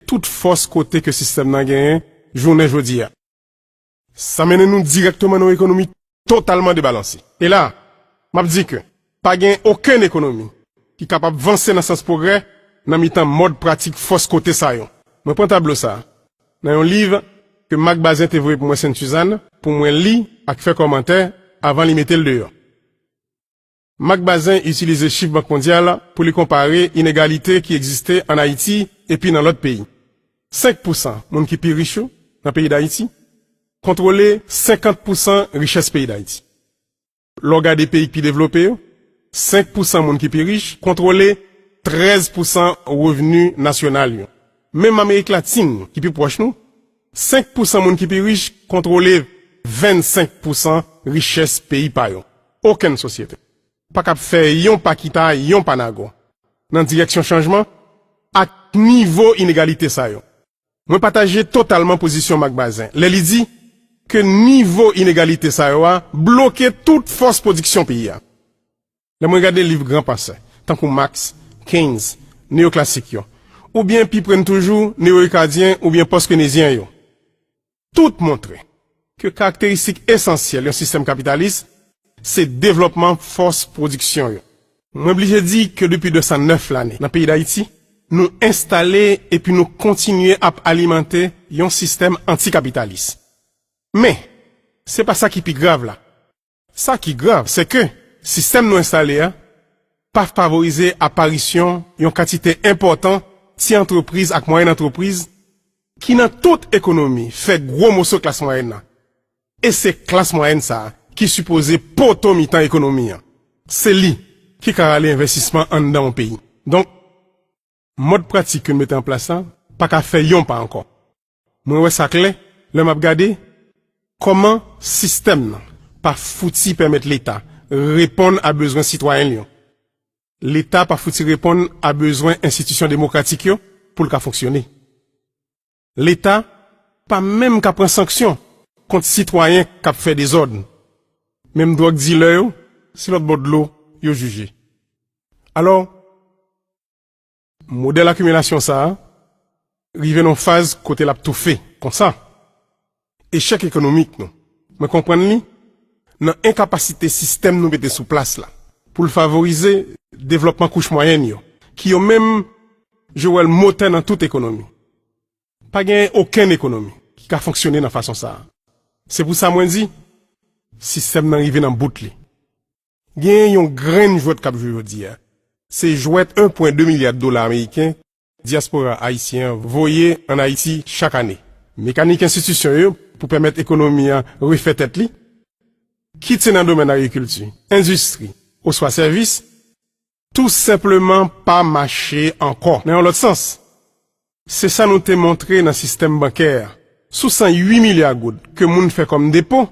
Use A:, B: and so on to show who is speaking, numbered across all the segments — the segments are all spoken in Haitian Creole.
A: tout fòs kote ke sistèm nan genyen jounen jodi a. Sa mennen nou dirèkteman nan yon ekonomi totalman debalanse. E la, m ap di ke pa gen okenn ekonomi ki kapab vanse nan sans pwogrè nan mitan mòd pratik fòs kote sa yo. Mwen pran tablo sa a nan yon liv ke Marc Bazin te voye pou mwen Sent Suzanne pou mwen li ak fè kòmantè avan li mete l deyò. Marc Bazin itilize chif Bank Mondyal pou li konpare inegalite ki egziste ann Ayiti epi nan lòt peyi. 5 pousan moun ki pi rich yo nan peyi Dayiti kontwole 50 pousan richès peyi Dayiti. Lè w gade peyi k pi devlope yo, 5 pousan moun ki pi rich kontwole 13 pousan revni nasyonal yo. Menm Amerik Latin ki pi pwòch nou, 5 pousan moun ki pi rich kontwole 25 pousan richès peyi pa yo. Okenn sosyete pa kab fè yon pa kita yon pa nago nan direksyon chanjman ak nivo inegalite sa yo. Mwen pataje totalman pozisyon Marc Bazin lè li di ke nivo inegalite sa yo a bloke tout fòs pwodiksyon peyi a. Lè mwen gade liv gran pansè, tankou Max, Keynes, neyoklasik yo, oubyen pi pre n toujou, neyorikadyen oubyen pòskenezyen yo, tout montre ke karakteristik esansyèl yon sistèm kapitalis se devlòpman fòs pwodiksyon yo. Mwen blije di ke depi 209 lane nan peyi Dayiti, nou enstale epi nou kontinye ap alimante yon sistèm anti-kapitalis. Men, se pa sa ki pi grav la. Sa ki grav, se ke sistèm nou enstale a pa favorize aparisyon yon kantite enpòtan ti antrepriz ak mwayèn antrepriz ki nan tout ekonomi fè gwo moso klas mwayèn nan. E se klas mwayèn sa a ki sipoze poto mitan ekonomi an. Se li ki ka rale envèstisman anndan yon peyi. Donk, mòd pratik ke nou mete an plas la pa ka fè yon pa ankò. Mwen wè sa klè lè m ap gade kòman sistèm nan pa fouti pèmèt Leta reponn a bezwen sitwayen l yo. Leta pa fouti reponn a bezwen enstitisyon demokratik yo pou l ka fonksyone. Leta pa menm ka pran sanksyon kont sitwayen k ap fè dezòd. Menm dwòg dilè yo, se lòtbò dlo yo jije. Alò. Modèl akimilasyon sa a rive nan yon faz kote l ap toufe. Konsa, echèk ekonomik nou, mwen konprann li nan enkapasite sistèm nou mete sou plas la pou l favorize devlòpman kouch mwayèn yo, ki yo menm, je wè l, motè nan tout ekonomi. Pa genyen okenn ekonomi ki ka fonksyone nan fason sa a. Se pou sa mwen di, sistèm nan rive nan bout li. Genyen yon grenn jwèt k ap jwe jodi a. Se jwèt 1 pwen 2 milyad dola ameriken dyaspora ayisyen an voye ann Ayiti chak ane. Mekanik enstitisyon yo pou pèmèt ekonomi an refè tèt li, kit se nan domèn agrikilti, endistri oswa sèvis, Tou senpleman pa mache ankò. Nan yon lòt sans, se sa nou te montre nan sistèm bankè a. Sou 108 milya goud ke moun fè kòm depo,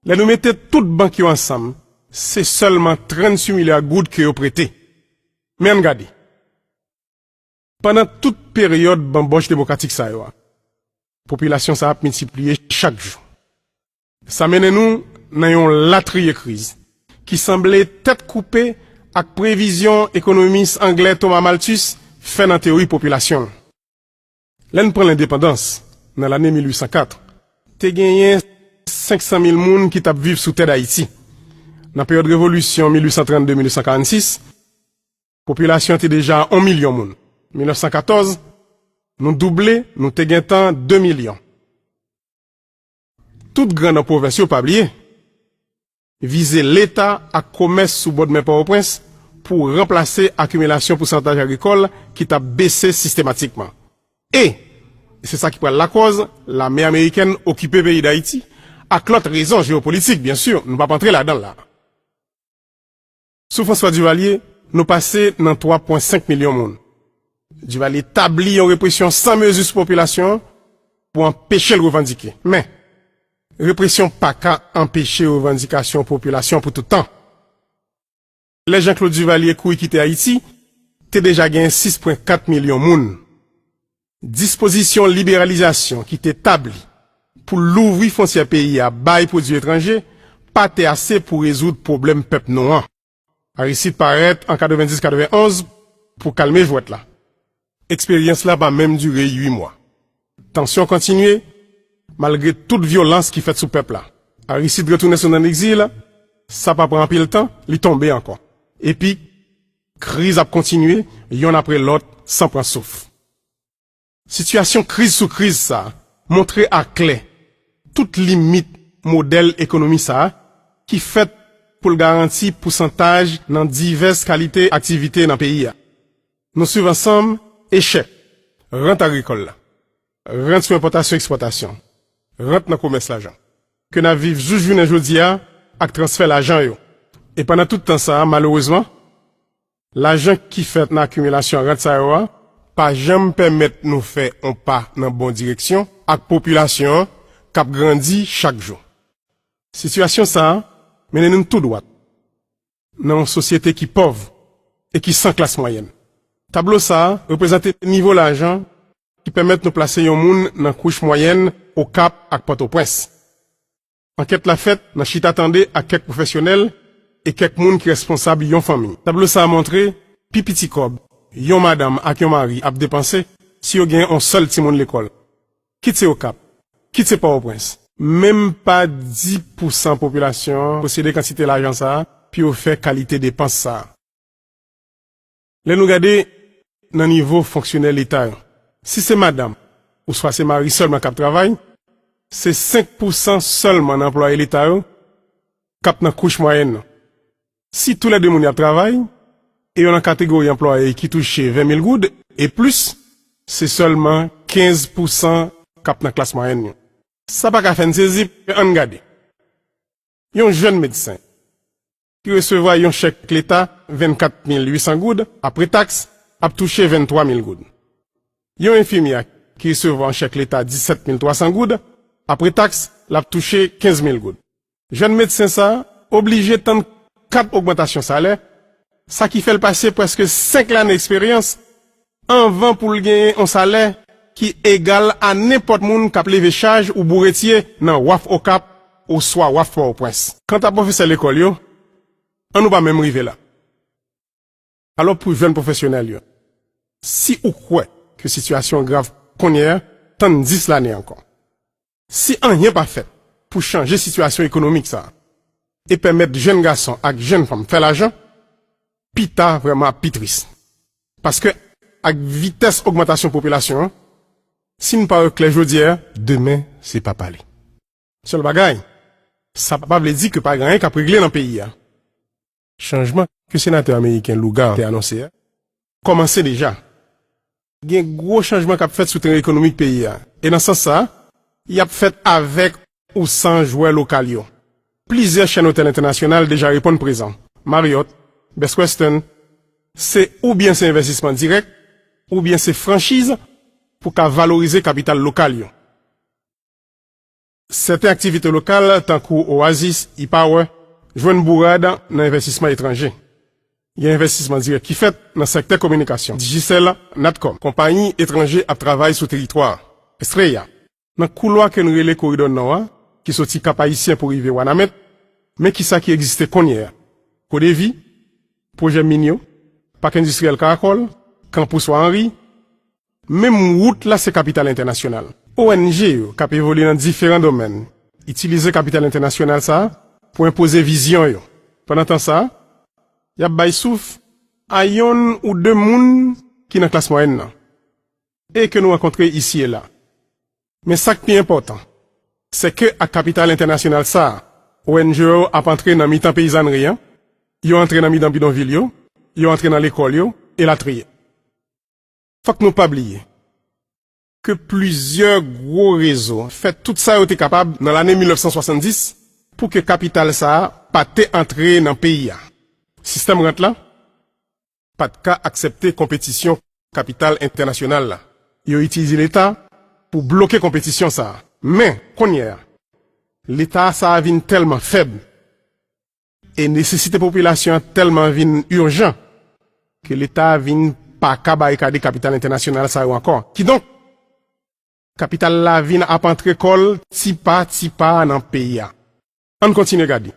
A: lè nou mete tout bank yo ansanm, se sèlman 38 milya goud ke yo prete. Men ann gade. Pandan tout peryòd banbòch demokratik sa yo a, popilasyon sa ap miltipliye chak jou. Sa mennen nou nan yon latriye kriz ki sanble tèt koupe ak previzyon ekonomis anglè Thomas Malthus fè nan teyori popilasyon l. Lè n pran lendepandans nan lane 1804, te genyen 500 mil moun ki t ap viv sou tè Dayiti. Nan peryòd revolisyon 1832-1846, popilasyon an te deja on milyon moun. 1914, nou double, nou te gentan de milyon. Tout gran nan pwovens yo pa bliye vize leta ak komès sou bòdmè Pòtoprens pou ranplase akimilasyon pousantaj agrikòl ki t ap bese sistematikman. E se sa ki pral lakòz lame amerikèn okipe peyi Dayiti, ak lòt rezon jewopolitik, byensi, nou p ap antre ladan l la. Sou François Duvalier, nou pase nan 3 pwen 5 milyon moun. Duvalier tabli yon represyon san mezi sou popilasyon an pou anpeche l revandike. Men, represyon pa ka anpeche revandikasyon popilasyon pou tout tan. Lè Jean-Claude Duvalier kouri kite Ayiti, te deja gen 6 pwen 4 milyon moun. Dispozisyon liberalizasyon ki te tabli pou louvri fontyè peyi a bay pwodui etranje pa te ase pou rezoud pwoblèm pèp nou an. Aristide parèt an 90-91 pou kalme jwèt la. Eksperyans la pa menm dire ui mwa. Tansyon kontinye, malgre tout vyolans ki fèt sou pèp la. Aristide retounen sou nann egzil, sa pa pran anpil tan, li tonbe ankò. Epi. Kriz ap kontinye yonn apre lòt san pran souf. Sitiyasyon kriz sou kriz sa a montre a klè tout limit modèl ekonomi sa a ki fèt pou l garanti pousantaj nan divès kalite aktivite nan peyi a. Nou swiv ansanm echèk rant agrikòl la, Rant sou enpòtasyon ekspòtasyon. Rant nan komès lajan. Ke n ap viv jous jounen jodi a ak transfè lajan yo. E pandan tout tan sa a, malerezman, lajan ki fèt nan akimilasyon rant sa yo a pa janm pèmèt nou fè on pa nan bon direksyon ak popilasyon an k ap grandi chak jou. Sitiyasyon sa a mennen nou tou dwat nan yon sosyete ki pòv e ki san klas mwayèn. Tablo sa a reprezante nivo lajan ki pèmèt nou plase yon moun nan kouch mwayèn Okap ak Pòtoprens. Ankèt la fèt nan chita tande ak kèk pwofesyonèl e kèk moun ki responsab yon fanmi. Tablo sa a montre pi piti kòb yon madanm ak yon mari ap depanse si yo gen yon sèl timoun lekòl. kit se Okap, kit se Pòtoprens. Menm pa 10 pou san popilasyon an posede kantite lajan sa a pou yo fè kalite depans sa a. Lè nou gade nan nivo fonksyonè Leta yo, si se madanm ouswa se mari sèlman k ap travay, se 5 pou san sèlman nan anplwaye Leta yo k ap nan kouch mwayèn nan. Si tou lè de moun y ap travay e yo nan kategori anplwaye ki touche 20 mil goud e plis, se sèlman 15 pousan k ap nan klas mwayèn yo. Sa pa ka fè n sezi, men ann gade yon jèn medsen ki resevwa yon chèk leta 24 mil 800 goud apre taks ap touche 23 mil goud, yon enfimyè ki resevwa yon chèk leta 17 mil 300 goud apre taks l ap touche 15 mil goud. Jèn medsen sa a oblije tann 4 ogmantasyon salè, sa ki fè l pase prèske 5 lane eksperyans anvan pou l genyen yon salè ki egal a nenpòt moun k ap leve chaj ou bouretye nan waf Okap oswa waf Pòtoprens. Kanta pwofesè lekòl yo, an nou pa menm rive la. Alò pou jèn pwofesyonèl yo, si ou kwè ke sitiyasyon an grav konnye a, tann 10 lane ankò. Si anyen pa fèt pou chanje sitiyasyon ekonomik sa a e pèmèt jèn gason ak jèn fanm fè lajan, pi ta vrèman ap pi tris. Paske ak vitès ogmantasyon popilasyon an, si nou pa wè klè jodyè a, demen se pa pale. Sèl bagay, sa pa vle di ke pa gen anyen k ap regle nan peyi a. chanjman ke senatè ameriken Lugar te anonse a, kòmanse deja. Gen gwo chanjman k ap fèt sou teren ekonomik peyi a, e nan sans sa a, y ap fèt avèk ou san jwè lokal yo. Plizyè chèn otèl entènasyonal deja reponn prezan, Marriott, Best Western, se oubyen se envèstisman dirèk, oubyen se franchiz pou ka valorize kapital lokal yo. Sèten aktivite lokal, tankou Oasis, E-Power, jwenn bourad nan envèstisman etranje. Gen envèstisman dirèk ki fèt nan sèktè kominikasyon, Digicel, Natcom. Konpayi etranje ap travay sou teritwa a. Estrella. Nan koulwa ke n rele Koridò Nò a, ki soti Kap Ayisyen pou rive Wanament, men kisa ki egziste kounye a, Codevi, pwojè min yo, Pak Endistriyèl Karakòl, Kanpous Wa Anri, Menm wout la se kapital entènasyonal. ONG yo k ap evolye nan diferan domèn itilize kapital entènasyonal sa pou enpoze vizyon yo. Pandan tan sa, y ap bay souf a yonn ou de moun ki nan klas mwayèn nan e ke nou rankontre isi e la. Men sa k pi enpòtan, se ke ak kapital entènasyonal sa, ONG yo ap antre nan mitan peyizànri an, yo antre nan midan bidonvil yo, yo antre nan lekòl yo, elatriye. Fòk nou pa bliye ke plizyè gwo rezo fè tout sa yo te kapab nan lane 1970 pou ke kapital sa a pa te antre nan peyi a. Sistèm rant la pa t ka aksepte konpetisyon kapital entènasyonal la. Yo itilize Leta pou bloke konpetisyon sa a. Men, kounyè a, Leta sa a vin tèlman fèb E nesesite popilasyon an tèlman vin urjan ke Leta vin pa ka barikade kapital entènasyonal sa yo ankò. Kidonk, kapital la vin ap antre kò l ti pa ti pa nan peyi a. Ann kontinye gade.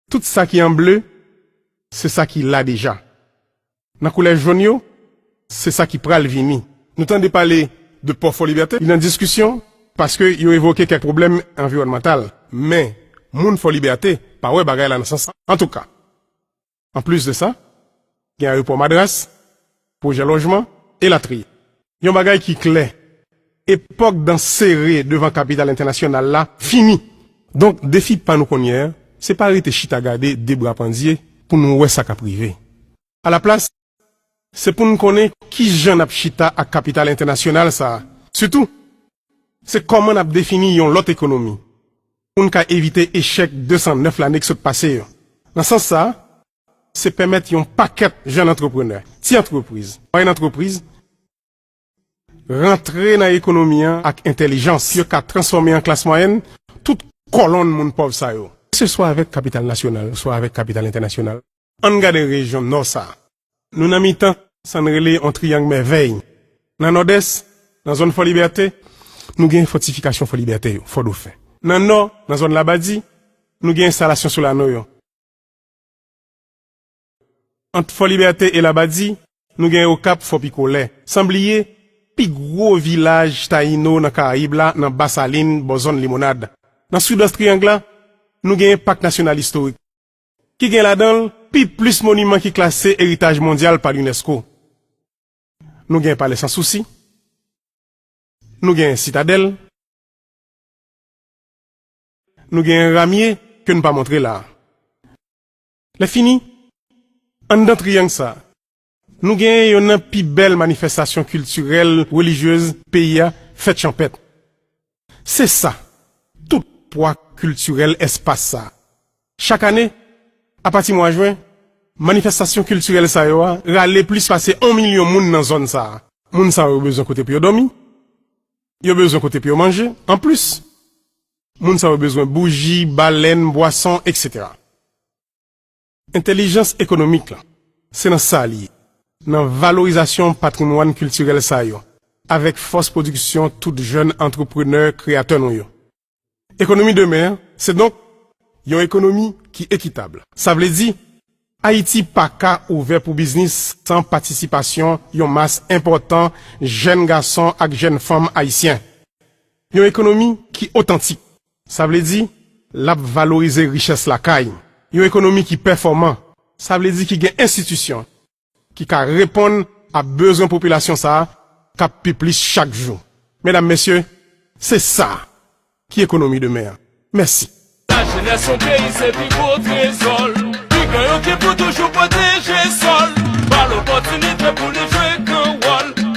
A: Tout sa ki an ble, se sa ki la deja. Nan koulè jaune yo, se sa ki pral vini. Nou tande pale de pò Fò Libète, li nan diskisyon paske yo evoke kèk pwoblèm anviwònmantal. Men, moun Fò Libète pa wè bagay la nan sans sa. Antouka, anplis de sa, gen ayopò Madras, pwojè lòjman, elatriye. Yon bagay ki klè, epòk dan sere devan kapital entènasyonal la fini. Donk defi pa nou kounyè a, se pa rete chita gade de bra pandye pou nou wè sa k ap rive. Alaplas, se pou n konnen ki jan n ap chita ak kapital entènasyonal sa a. Sitou, se kòman n ap defini yon lòt ekonomi pou n ka evite echèk 209 lane k sot pase yo. Nan sans sa a, Se pèmèt yon pakèt jèn antreprenè, ti antrepriz, mwayèn antrepriz rantre nan ekonomi an ak entèlijans pou yo ka transfòme an klas mwayèn tout kòlonn moun pòv sa yo, se swa avèk kapital nasyonal oswa avèk kapital entènasyonal. An n gade rejyon Nò sa a. Nou nan mitan sa n rele yon triyang mèvèy. Nan Nòdès, nan zòn Fòlibète, nou gen fòtifikasyon Fòlibète yo, Fòdofen. Nan Nò, nan zòn Labadi, nou gen enstalasyon Solano yo. Ant Fòlibète e Labadi, nou gen Okap Fò Pikolè. San bliye, pi gwo vilaj Tayino nan Karayib la nan Ba Salin bò zòn Limonad. Nan Sidwès Triyang la, nou genyen Pak Nasyonal Istorik, ki gen ladan l pi plis moniman ki klase Eritaj Mondyal pa Lunèsko. Nou gen Palè San Sousi. Nou gen Sitadèl. Nou gen yon ramye ke n pa montre la a. Lè fini, anndan triyang sa a, nou gen yonn nan pi bèl manifestasyon kiltirèl, relijyez peyi a, fèt chanpèt. Se sa tout pwa kiltirèl espas sa a. Chak ane, apati mwa jwen, manifestasyon kiltirèl sa yo a rale plis pase on milyon moun nan zòn sa a. Moun sa yo bezwen kote pou yo dòmi. Yo bezwen kote pou yo manje. Anplis, moun sa yo bezwen bouji, balèn, bwason, eksetera. Entèlijans ekonomik lan, se nan sa li ye, nan valorizasyon patrimwàn kiltirèl sa yo, avèk fòs pwodiksyon tout jèn antreprenè kreyatè nou yo. Ekonomi demen an se donk yon ekonomi ki ekitab. Sa vle di, Ayiti pa ka ouvè pou biznis san patisipasyon yon mas enpòtan jèn gason ak jèn fanm ayisyen. Yon ekonomi ki otantik, sa vle di l ap valorize richès lakay, yon ekonomi ki pèfòman, sa vle di ki gen enstitisyon, ki ka reponn a bezwen popilasyon sa a k ap pi plis chak jou. Medam, Mesye, se sa ki ekonomi demen an. Mèsi. La jenès
B: yon peyi se pi gwo trezò l Pigan yo ki pou toujou pwoteje sò l Ba l opòtinite pou li jwe gran wòl